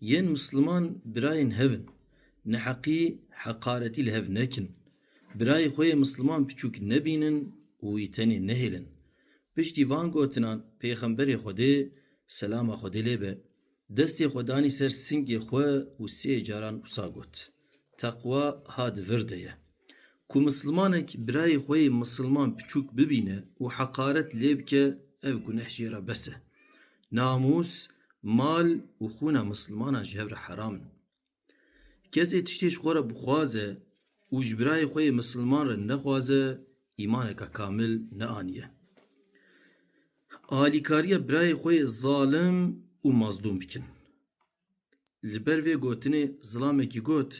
Yên Misliman birayên hev in. Neheqî, heqaretî li hev nekin. Birayê xwe yê Misliman piçûk nebînin û wî tenê nehêlin. Piştî van gotinan Pêxemberê Xwedê, selama Xwedê lê be, destê xwe danî ser singê xwe û sê caran wisa got. Teqwa ha di vir de ye. Ku misilmanek birayê xwe yê misilman piçûk bibîne û heqaret lê bike ev guneh jê re bes e. Namûs, mal û xûna misilmanan ji hev re heram in. Kesê tiştê ji xwe re bixwaze û ji birayê xwe yê misilman re nexwaze îmaneke kamil neaniye. Alîkariya birayê xwe yê zalim û mazlûm bikin. Li ber vê gotinê zilamekî got,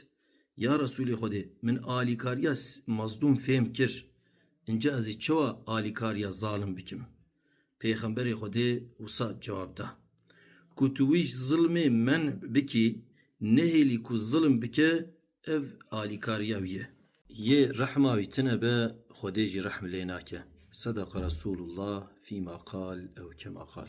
Ya Resûlê Xwedê, min alîkariya Mazdûm fêm kir, înca ez ê çawa alîkariya zalim bikim? Pêxemberê Xwedê wisa cewab da, Ku tu wî ji zilmê men'b bikî, nehêlî ku zilim bike, ev alîkariya wî ye. Yê rehma wî tune be, Xwedê jî rehm lê nake. Sedeqa Resûlullah fîma qal ew kema qal.